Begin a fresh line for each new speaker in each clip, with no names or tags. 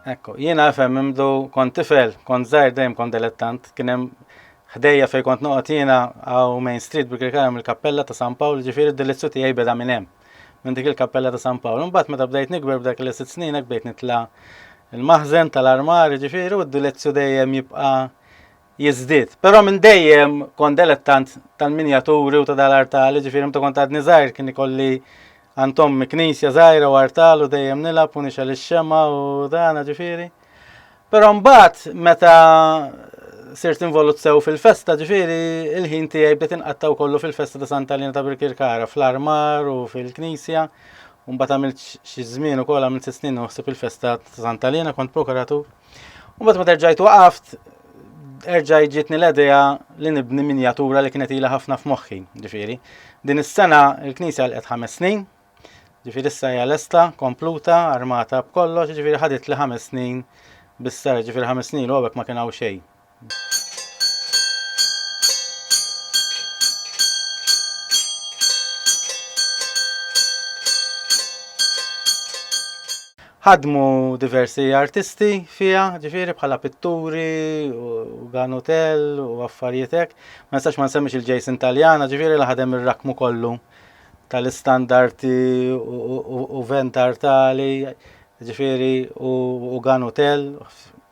Ekku, jiena għafem mimdu kont tifel, kont zaħir dejjem kont delettant, kienem ħdejja fej kont noqgħod jiena għaw Main Street bi Kirkaram il-Kappella ta' San Pawl, ġifieri d-delizzju tiegħi beda minn hemm. Minn dik il-Kappella ta' San Pawl. Imbagħad meta bdejt nikber b'dak li sitt snin hekk bdejt nitla' il-maħżen tal-armar, ġifieri u d-delizzju dejjem jibqa' jiżdied. Però minn dejjem kont delettant tal-minjaturi u ta' dal-artal, jiġifieri meta kont għadni żgħir kien ikolli għand ommi knisja żgħira u artal u dejjem nilgħab u nixgħel ix-xemgħa u dan, ġifieri. Però mbagħad meta sirt involut sew fil-festa, ġifieri il-ħin tiegħi bdiet inqattaw kollu fil-festa ta' Santa Lina ta' Birkirkara, fl-armar u fil-knisja. Mbagħad għamilt xi żmien ukoll għamilt sitt snin u ħsib il-festa ta' Santa Lina kont prokuratur. U bat ma terġajt waqaft, erġaj ġitni l-edeja li nibni minjatura li kienet ila ħafna f'moħħi, ġifiri. Din is-sena il-Knisja l ħames snin, ġifiri issa hija lesta, kompluta, armata b'kollox, ġifiri ħadit li ħames snin bis-sar, ġifiri ħames snin u għabek ma kien hawn xejn. ħadmu diversi artisti fija, ġifiri bħala pitturi, u ganotel, u affarietek. Ma nistax ma nsemmix il-Jason Taljana, ġifiri li ħadem il-rakmu kollu tal-istandarti u ventar tali Jiġifieri u u gun hotel,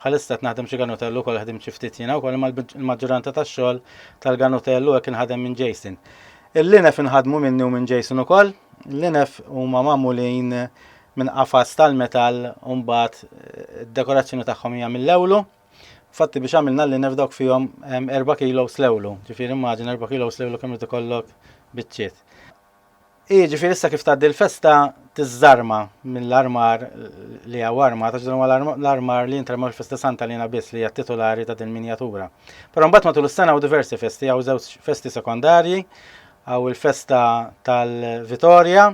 bħalissa qed naħdem xi gun hotel ukoll ħdimt xi ftit jiena wkoll imma l-maġġuranza tax-xogħol tal-gun hotel u hekk inħadem minn Jason. Il-linef inħadmu minni u minn Jason ukoll. L-linef huma magħmulin minn qafas tal-metall u mbagħad id-dekorazzjoni tagħhom hija mill-lewlu. Fatti biex għamilna l-linef dawk fihom 4 kilos lewlu, ġifieri immaġina 4 kilos lewlu kemm irid ikollok biċċiet. Hi, ġifieri issa kif tgħaddi l-festa tiżżarma mill-armar li hawn armar, għax dan huwa l-armar li jintrema fil-Festa Santa Lina biss li hija titulari ta' din minjatura. Però mbagħad matul is-sena hawn diversi festi, hawn żewġ festi sekondarji, hawn il-festa tal-Vitorja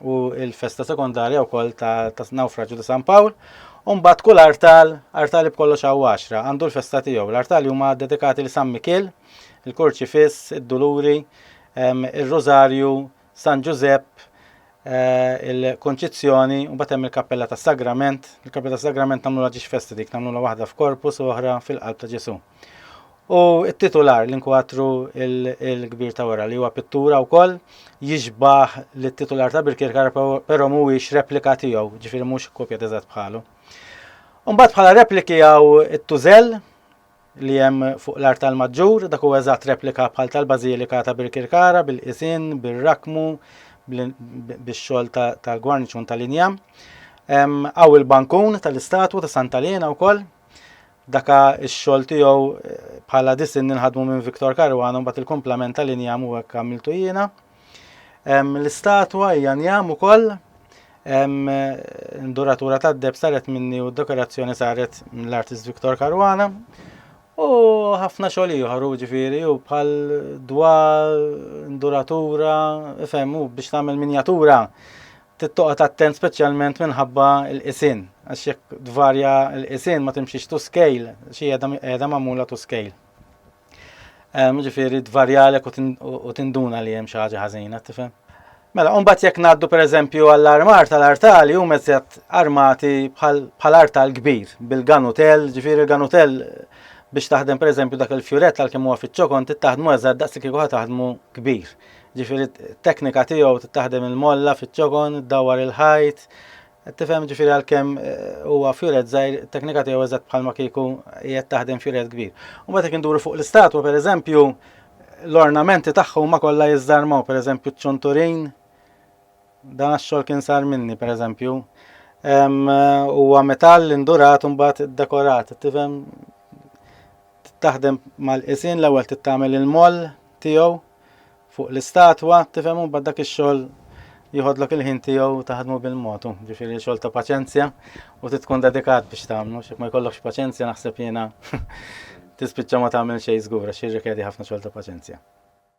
u l-festa sekondarja wkoll ta' nawfraġġju ta' San Pawl, u mbagħad kull artal, artali b'kollox hawn għaxra, għandu l-festa tiegħu. L-artali huma dedikati li San Mikiel, il-Kurċifiss, id-Duluri, ir-Rużarju, San Ġużepp, eh, il-Kunċizzjoni, u mbagħad hemm il-Kappella tas-Sagrament. Il-Kappella tas-Sagrament nagħmluha ġiex festa dik, nagħmluha waħda f'korpus u oħra fil-qalb ta' Ġesù. U t-titular l-inkwatru il-kbir ta' wara li huwa pittura wkoll jixbaħ li t-titular ta' Birkirkar però mhuwiex replika tiegħu, ġifieri mhux kopja teżatt bħalu. Umbagħad bħala repliki għaw it-tużel, li hemm fuq l-artal maġġur, dak huwa eżatt replika bħal tal-Bażilika ta' Birkirkara bil-qisien, bir-rakkmu, bix-xogħol tal-gwarniċun tal-injam. Hawn il-bankun tal-istatwa ta' Santa Lena wkoll. Daka x-xogħol tiegħu eh, bħala disin ninħadmu minn Viktor Karwana mbagħad il-kumplament tal-injam u hekk għamiltu jiena. L-istatwa hija njam ukoll duratura tad-deb saret minni u d-dekorazzjoni saret mill-artist Viktor Karwana. U ħafna xogħol ieħor ġifieri u bħal dwa duratura, ifhem u biex tagħmel minjatura tittoqgħod attent speċjalment minħabba l-qisin għax jekk tvarja l-qisin ma timxiex to scale xi qiegħda magħmula to scale. Ġifieri tvarjalek u tinduna li hemm xi ħaġa ħażina, tifhem? Mela, unbat jekk naddu per eżempju għall-armar tal-artali u mezzet armati bħal artal kbir, bil-ganutel, ġifiri l-ganutel biex taħdem per eżempju dak il-fjuret tal kemm huwa fiċ-ċokon tittaħdmu eżatt daqs li kieku taħdmu kbir. Ġifiri teknika tiegħu tittaħdem il-molla fiċ-ċokon, dawar il-ħajt, Qed tifhem jiġifieri għalkemm huwa fjuret żgħir, it-teknika tiegħu eżatt bħalma kieku qiegħed taħdem fjuret kbir. U mbagħad jekk induru fuq l-istatwa pereżempju, l-ornamenti tagħha huma kollha jiżżarmaw, pereżempju ċ-ċunturin, dan għax-xogħol kien sar minni pereżempju. Huwa metall indurat u mbagħad iddekorat, tifhem taħdem mal-qisien l-ewwel tittamel il-moll tiegħu fuq l-istatwa, tifhem u mbagħad dak ix-xogħol jieħodlok il-ħin tiegħu taħdmu bil-mod, ġifieri xogħol ta' paċenzja u trid tkun dedikat biex tagħmlu, x'hekk ma jkollokx paċenzja naħseb jiena tispiċċa ma tagħmel xejn żgur għax jirrikjedi ħafna xogħol ta' paċenzja.